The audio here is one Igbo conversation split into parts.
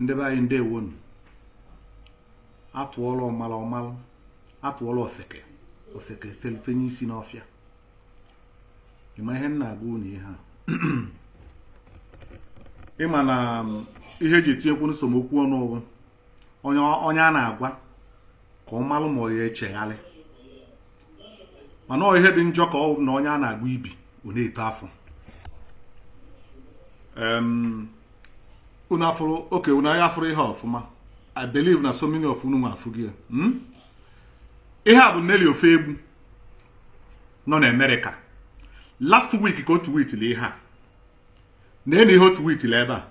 ndị be anyị ndewonu atụọlụ ọmalụ ọmalụ atụọlụ ofeke ofeke felụ fenye isi n'ọfịa ịma ihe m na-agwa unu ihe a ịma na ihe eji etinyekwu na some okwu ọnụ ọ bụ onye a na-agwa ka ọ malụ ma ọ ya echeghalị mana ihe dị njọ ka ọ na onye a na-agwọ ibi ọ na-eto afọ unu afụrụ okay unu ya-afụrụ ihe ọfụma i believe na so many of unu nwa afụghị ya hmm? ihe a bụ Nelly Ofoegbu nọ na Amerịka last week ka o tweetili ihe a na-ene ihe o tweetili ebe a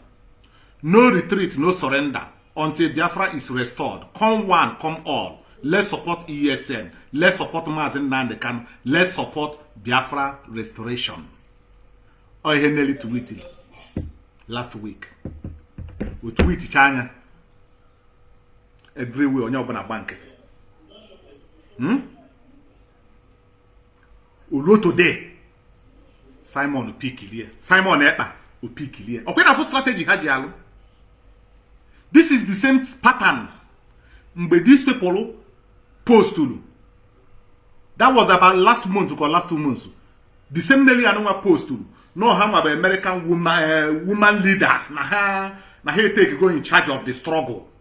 no retreat no surrender until biafra is restored come one come all let's support esn let's support maazị nnamdị kanu let's support biafra restoration ọ ihe Nelly tweeted last week o tweetichaa ya everywhere onye ọbụla gba nkịtị hmm? o luo today Simon pickilie Simon Ekpa epickilie ọkwa ị na-afụ strategy ha ji alụ this is the same pattern mgbe this people postulu that was about last month or last two months the same Nelly a nụnwa postulu na ha nwa bụ American woman, uh, woman leaders na ha na ha etakego in charge of the struggle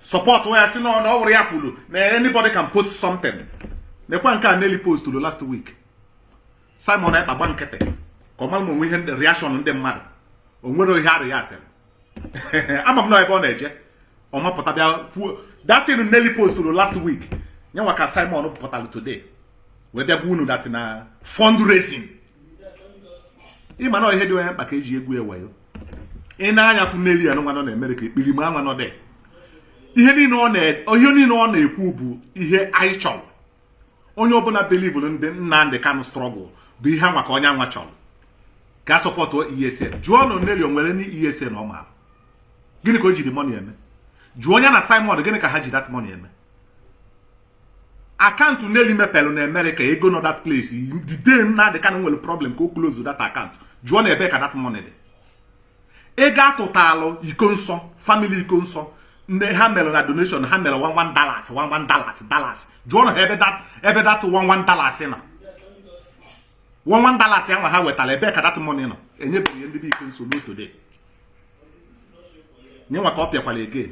support wee sị na ọ bụrọ ya kwuru na anybody can post something nekwa nke a Nelly posturu last week Simon Ekpa gba nkịtị ka ọ mara ma o nwe ihe reaction ndị mmadụ o nwere ihe a reactịrị ama m na ebe ọ na-eje ọ mapụta bịa kwuo that thing Nelly posturu last week nyenwa ka Simon pụtara today wee bịa gwa unu that thing na fundraising ịma na ihe dị onye mkpa ka eji egwu ya wayo i nee anya fụ Nelly a nụnwa nọ na Amerịka ekpirima anwa nọdụ ihe niile ọ na-ekwu bụ ihe anyị chọrọ onye ọbụla believụrụ na the Nnamdi Kanu struggle bụ ihe anwa ka onye anwa chọrọ ka a supportụ ESN jụọnụ Nelly o nwere ndị ESN ọ maara gịnị ka o jiri money eme jụọ ya na Simon gịnị ka ha ji that money eme account Nelly mepere na Amerịka ego nọ that place the day Nnamdi Kanu nwere problem ka o close that account jụọnụ ebe ka that money dị ego atụtalụ Ikonso family Ikonso ndị ha mere na donation ha mere one one dollars one one dollars dollars jụọnụ ha ebe that ebe that one one dollars nọ one one dollars ahụ ha wetara ebe ka that money nọ enyebeghị ndị be Ikonso up to today nye nwa ka ọ bịakwara again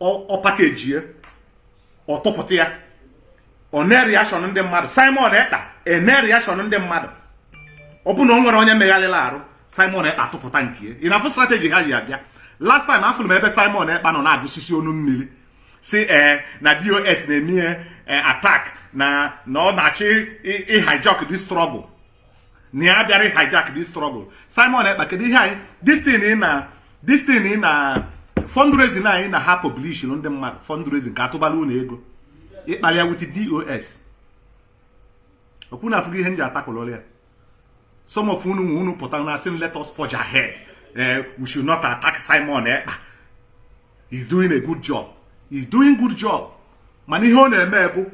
ọ package ya ọ tụpụta ya o nee reaction ndị mmadụ Simon Ekpa enee reaction ndị mmadụ ọ bụ na o nwere onye megharịla arụ Simon Ekpa tụpụta nke ya ị na-afụ strategy ha ji abịa last time afụrụ m ebe Simon Ekpa nọ na-agụsisi ọnụ mmiri sị ee eh, na DOS na-eme ihe eh, attack na na ọ na-achọ ịhijack the struggle na ya bịara hijack this struggle Simon Ekpa kedu ihe anyị this thing na this thing na fundraising anyị na ha publish ndị mmadụ fundraising ka a tụbara unu ego ị kpalị ya with DOS ọkwa unu afụgo ihe m ji atakwụlụrụ ya some of unu nwa unu pụta na-asị m let us forge ahead eh, we should not attack Simon Ekpa he's doing a good job he's doing good job mana ihe ọ na-eme bụ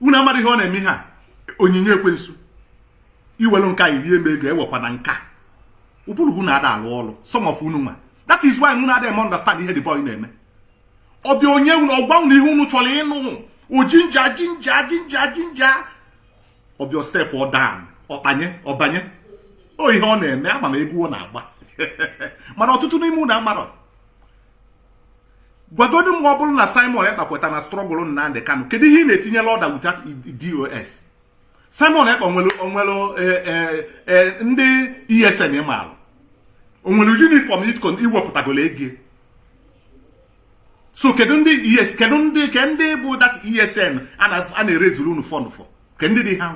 unu amarọ ihe ọ na-eme ihe a onyinye ekwensu i welu nka irie m ego ewekwana nka ụbụrụ unu ada alụ ọrụ some of unu nwa that is why unu ada eme understand ihe the boy na-eme ọ bịa o nye unu ọ gwa unu ihe unu chọrọ ịnụ ọ ginger ginger ginger ginger ọ bịa stepụọ down ọkpanye ọ banye ọ ihe ọ na-eme ama m egwu ọ na-agba mana ọtụtụ n'ime unu amarọ gwagodu m ọ bụrụ na Simon Ekpa kweta na struggle Nnamdi Kanu kedu ihe ị na-etinyela order without DOS Simon Ekpa o nwere o nwere eh, eh, eh, ndị ESN ị maara o nwere uniform ị wepụtagolo ego so kedu ndị ES kedu ndị ke ndị bụ that ESN a na-eraisuru unu fund for ke ndị dị ha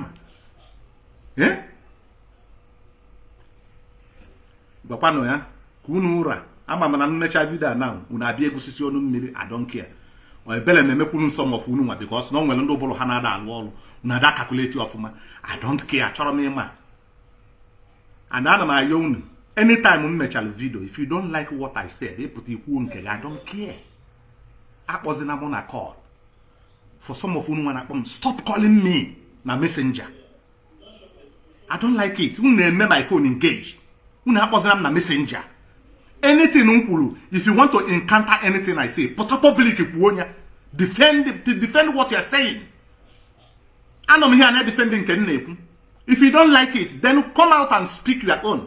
nwe gwakwanụ ya ka unu ụra ama m na m mechaa video a na unu abịa agụsisi ọnụ mmiri I don't care ebele m na-emekwuru some of unu nwa because na o nwere ndị ụbụrụ ha na ada alụ ọrụ na ada calculate ọfụma I don't care achọrọ m ịma and ana m ayọ unu anytime m mechara video if you don't like what I said ị pụta i kwuo nke gị I don't care akpọzina mụ na call for some of unu nwa na-akpọ m stop calling me na messenger I don't like it unu na-eme my phone engage unu akpọzina m na messenger anything m kwuru if you want to encounter anything I say pụta public kwuo ya defend defend what you are saying anọ m here na-edefend nke m na-ekwu if you don't like it then come out and speak your own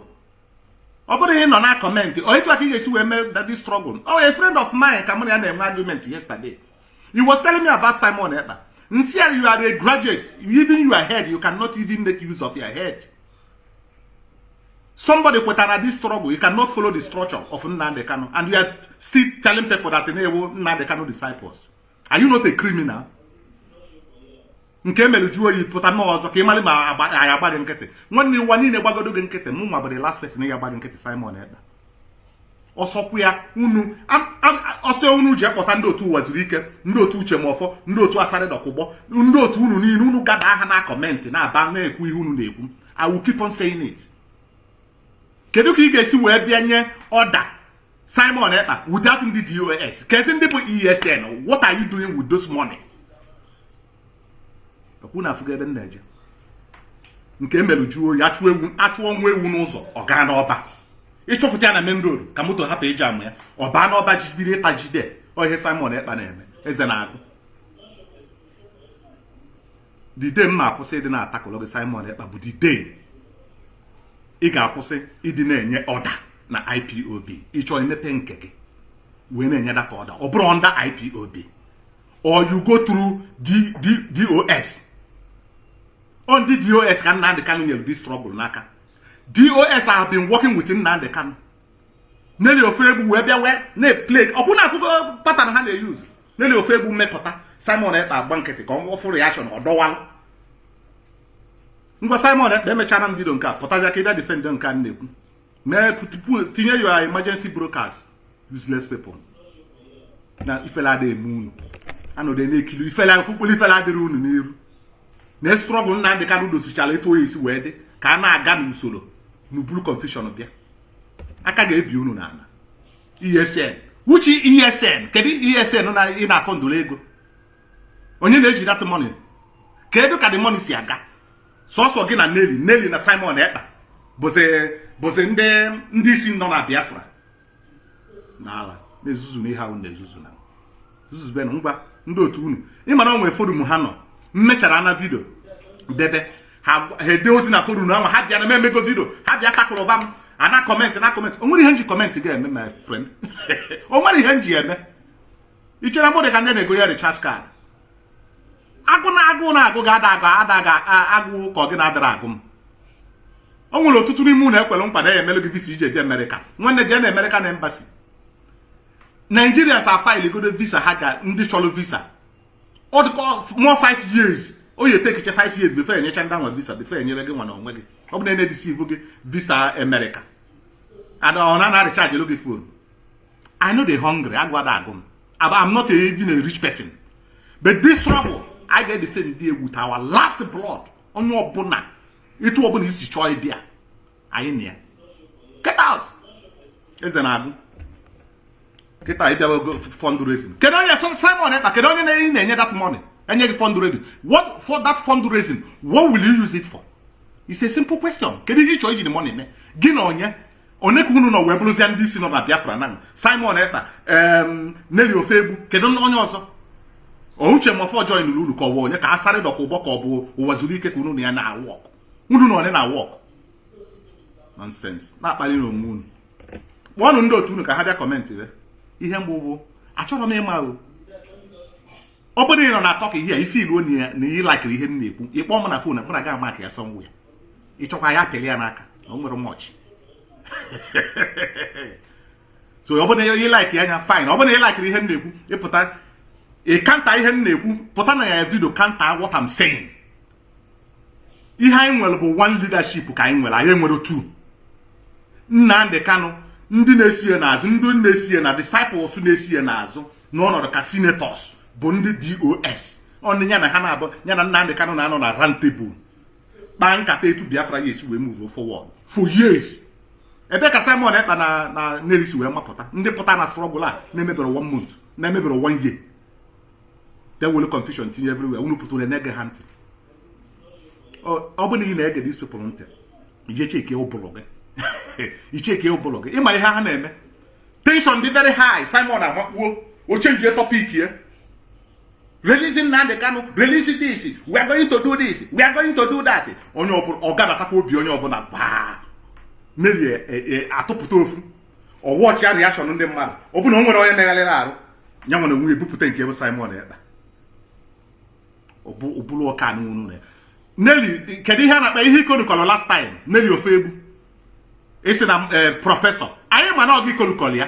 ọ bụrọ ịnọ na comment ọ etu a ka ị ga-esi wee mee the struggle oh a friend of mine ka mụ na ya na-enwe argument yesterday he was telling me about Simon Ekpa m sị ya you are a graduate even your head you cannot even make use of your head somebody kwetara this struggle you cannot follow the structure of Nnamdi Kanu and you are still telling people that na ị wụ Nnamdi Kanu disciples are you not a criminal nke i mere jụọ oyi pụta mee ọzọ ka ị mara ma a ya-agba gị nkịtị nwanne ụwa niile gbagodo gị nkịtị mụ nwa bụ the last person ya-agba gị nkịtị Simon Ekpa ọ sọkwa unu ọ sọ unu jee kpọta ndị otu Uwazuruike ndị otu Uche Mefor ndị otu Asari Dokubo ndị otu unu niile unu gada aha na comment na-aba na-ekwu ihe unu na-ekwu I will keep on saying it kedu ka ị ga-esi wee bịa nye order Simon Ekpa without ndị DOS kezi ndị bụ ESN what are you doing with those money? ọ kwa unu afụgo ebe m na-eje nke i merụ jụọ oyi a chụọ ewu a chụọ nwa ewu n'ụzọ ọ gaa n'ọba ị chụpụta ya na main road ka moto hapụ ịjam ya ọ baa n'ọba ji bido ịta ji ọ ihe Simon Ekpa na-eme eze na-agụ the day m ma-akwụsị ịdị na-atakụlụ gị Simon Ekpa bụ the day ị ga-akwụsị ịdị na-enye order na IPOB ị chọọ imepe nke gị wee na-enye that order ọ bụrọ under IPOB or you go through DOS ọ ndị DOS ka Nnamdi Kanu nyere this struggle n'aka DOS have been working with Nnamdi Kanu Nelly Ofoegbu wee bịa wee na-eplay ọ kwa unu afụgo pattern ha na-e-use Nelly Ofoegbu mepụta Simon Ekpa agba nkịtị ka ọ fụ reaction ọ dọwalụ ngwa Simon Ekpa emechara m video nke a pụtazia ka ị bịa defend nke a na-ekwu mee tinye your emergency broadcast useless people na ifele adịghị eme unu anọdụ na-ekiri ifele fụkpụrụ ifele adịrọ unu n'iru na struggle Nnamdi Kanu dosichara etu ọ ya-esi wee dị ka a na-aga n'usoro unu buru confusion bịa aka ga-ebi unu n'ala ESN which ESN kedu ESN na ị na-afundụrụ ego onye na-eji that money kedu ka the money si aga sọsọ gị na Nelly Nelly na Simon Ekpa bụzi ndị isi nọ na Biafra n'ala na-ezuzu na ihe ahụ na-ezuzu na zuzubenụ ngwa ndị otu unu ị mara o nwere forum ha nọ m mechara na video debe ha ede ozi na forum ahụ ha bịa na m emego video ha bịa takụrụba m ana comment na comment o nwere ihe m ji comment gị eme my friend o nwere ihe m ji eme i chere na m dị ka ndị a na-egonye recharge card agụụ na-agụ na agụụ ga-ada agụ ada ga agụ ka ọ gị na adịrọ agụ m o nwere ọtụtụ n'ime unu e kwere nkwa na a ya-emere gị visa i ji eje America nwanne jee na American embassy Nigerians afilegodo visa ha ga ndị chọrọ visa ọ dị ka more five years ọ ya-etakecha 5 years before e nyechaa ndị anwa visa before e nyere gị nwa na onwe gị ọ bụ na-edeceive gị visa America and ọ na-arechargelu gị phone I no dey hungry agụụ ada agụ m I'm not even a rich person but this struggle anyị ga-edefend ya with our last blood onye ọbụla etu ọbụla i si chọọ ịbịa anyị na ya get out eze na-agụ kịta ịbịawa ogo fundraising kedu onye Simon Ekpa kedu onye na-enye na-enye that money enye gị fundraising what for that fundraising what will you use it for it's a simple question kedu ihe ị chọọ iji the money mee gị na onye onye ka unu nọ wee bụrụzie ndị isi nọ na biafra na simon ekpa nelly ofoegbu kedu onye ọzọ ọ uche mefor joinụrụ unu ka ọ wụ onye ka asari dokubo ka ọ bụ uwazuruike ka unu na ya na-awọk unu na onye na-awọk nọnsens na-akpali na onwe unu kpọọnụ ndị otu unu ka ha bịa kọmentị re ihe mgbe bụ achọrọ m ịma o ọ bụrụ na ị nọ na-atọk ihe a ị fiili na ihe m na-ekwu ị kpọọ m na fon mụ na gị amaka ya sọnwụ ya ị chọkwa ya pịlị ya n'aka o nwere mọchị so ọ bụrụ na ị laikiri anya fine ọ bụrụ na ị laikiri ihe m na-ekwu ị pụta ị kanta ihe m na-ekwu pụta na ya vidio kanta what I'm saying ihe anyị nwere bụ one leadership ka anyị nwere anyị enwerọ two Nnamdi Kanu ndị na-esi ya n'azụ ndị na-esi ya na disciples na-esi ya n'azụ nọ n'ọnọdụ ka senators bụ ndị DOS ọnụ ya na ha na-abụ ya na Nnamdi Kanu na-anọ na round table kpaa nkata etu biafra ga-esi wee move forward for years ebe ka simon ekpa na nelly si wee mapụta ndị pụta na strọgụl a na-emeberọ one month na-emeberọ one year ewere confusion tinye everywhere unu pụtara na-ege ha ntị ọ bụrụ na ị na-ege these people ntị ị jee cheke ụbụrụ gị ị cheke ụbụrụ gị ị ma ihe ha na-eme tension dị very high simon amakpuo o chenjie topic ya release Nnamdi Kanu release this we are going to do this we are going to do that onye ọbụla ọ gabatakwa obi onye ọbụla baa merie e, e, atụpụta ofu ọ wọchịa reaction ndị mmadụ ọ bụrụ na o nwere onye megharịrị arụ ya nwere onwe ebupụta nke bụ Simon Ekpa ọ bụrụ ọka n'unu ya Nelly kedu ihe a na-akpọ ihe ikorukọrọ last time Nelly Ofoegbu sị na e, prọfesọ anyị ma na ọ gị ikorukọrọ ya